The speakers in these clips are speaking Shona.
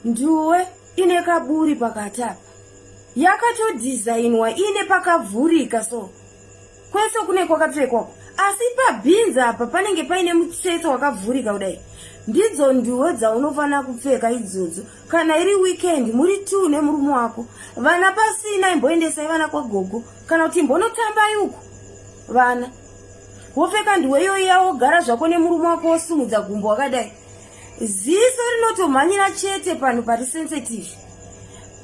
nduwe ine kaburi pakati apa yakatodhizainwa ine pakavhurika so kwese kune kwakapfekwa asi pabhinzi apa panenge paine mutsetse wakavhurika kudai ndidzo nduwo dzaunofanira kupfeka idzodzo kana iri weekend muri t nemurume wako vana pasina imboendesai vana kwagogo kana kuti imbonotambai uku vana wopfeka ndiwe iyoyi yawogara zvako nemurume wako wosumudza gumbo wakadai ziso rinotomhanyira chete panhu pari sensitive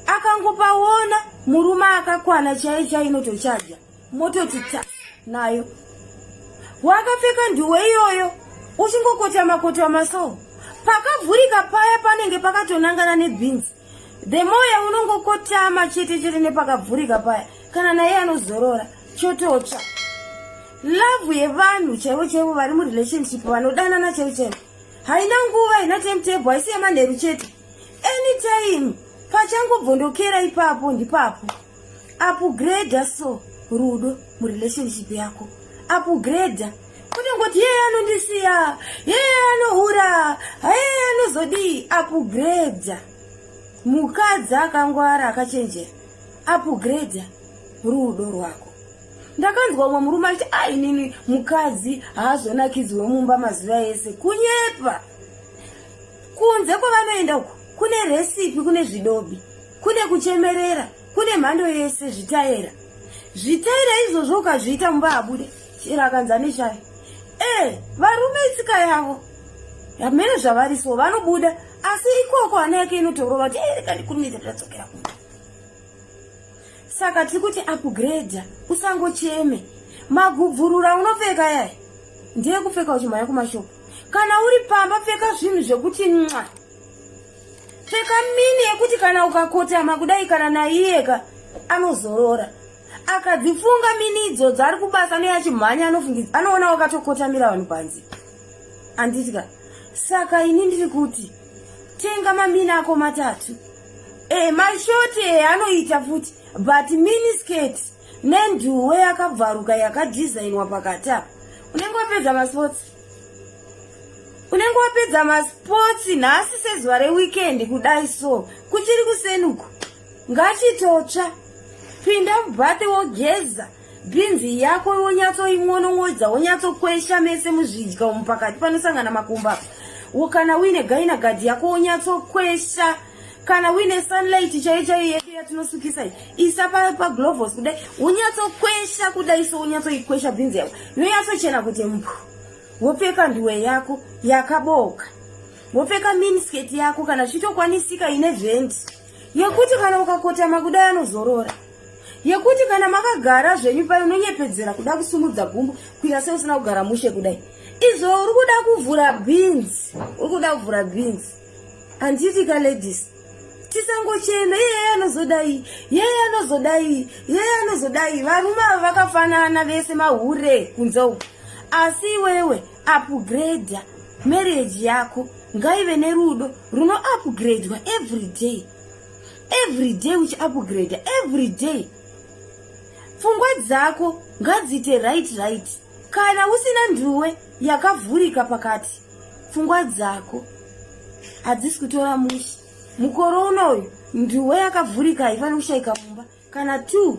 akangopaona murume akakwana chaiye chai inotochaja mototi ta nayo wakapfeka ndiwe iyoyo uchingokotama kotama so pakavhurika paya panenge pakatonangana nebhinzi the more yaunongokotama chete chete nepakavhurika paya kana naye anozorora chototsva love yevanhu chaivo chaivo vari murelationship vanodanana chaivo chaivo haina nguva haina timetable haisi yemanheru chete anytime pachangobvondokera ipapo ndipapo upgrade so rudo murelationship yako upgrade kuti ngoti yeye anondisiya yeye anohura yeye anozodii upgrade mukadzi akangwara akachenjera upgrade rudo rwako ndakanzwa umwe murume achiti ainini mukadzi haazonakidzwe mumba mazuva ese kunyepa kunze kwavanoenda uku kune resipi kune zvidobi kune kuchemerera kune mhando yese zvitaera zvitaera izvozvo ukazviita mumba habude chero akanzi aneshaya ee eh, varume itsika yavo hamene zvavari so vanobuda asi ikoko hana yake inotorova kuti erekanikuneta eh, tadzokera kumba saka tiri kuti upgrade usangocheme magubvurura unopfeka yai ndeye kupfeka uchimhanya kumashopu kana uri pamba pfeka zvinhu zvekuti nxa pfeka mini yekuti kana ukakotama kudai kana naiyeka anozorora akadzifunga mini idzodzo ari kubasa neachimhanya anofungidza anoona wakatokotamira vanhu panzi anditika saka ini ndiri kuti tenga mamini ako matatu e, mashoti e, anoita futi but mini skate nenduwe yakabvaruka yakadhizainwa pakati apa unenge wapedza masports unenge wapedza masports nhasi sezuva reweekend kudai so kuchiri kusenuko ngachitotsva pinda mubhate wogeza bhinzi yako wonyatsoimonon'odza wonyatsokwesha mese muzvidya umu pakati panosangana makumba kana uine gaina gadhi yako wonyatsokwesha so, kana uine sunlight chaiyo chaiyo yedu yatinosukisa iyi isa paglovos kudai unyatsokwesha kudai so unyatsoikwesha bhinzi yako yonyatsochena kuti mpu wopfeka nduwe yako yakabooka wopfeka minisket yako kana zvichitokwanisika ine vhendi yekuti kana ukakotama kudai anozorora yekuti kana makagara zvenyu payo unonyepedzera kuda kusumudza gumbo kuita seusina kugara mushe kudai izvo uri kuda kuvhura bhinzi uri kuda kuvhura bhinzi handitika ladies tisangochema iyeye anozodai yeye anozodai yeye anozodai varume ava vakafanana vese mahure kunze uku asi iwewe upgrade marriage yako ngaive nerudo runo upgradwa every day every day uchi upgrade every day pfungwa dzako ngadziite right right kana usina nduwe yakavhurika pakati pfungwa dzako hadzisi kutora musha mukore unoyu nduwe yakavhurika haifaniri kushaika mumba kana two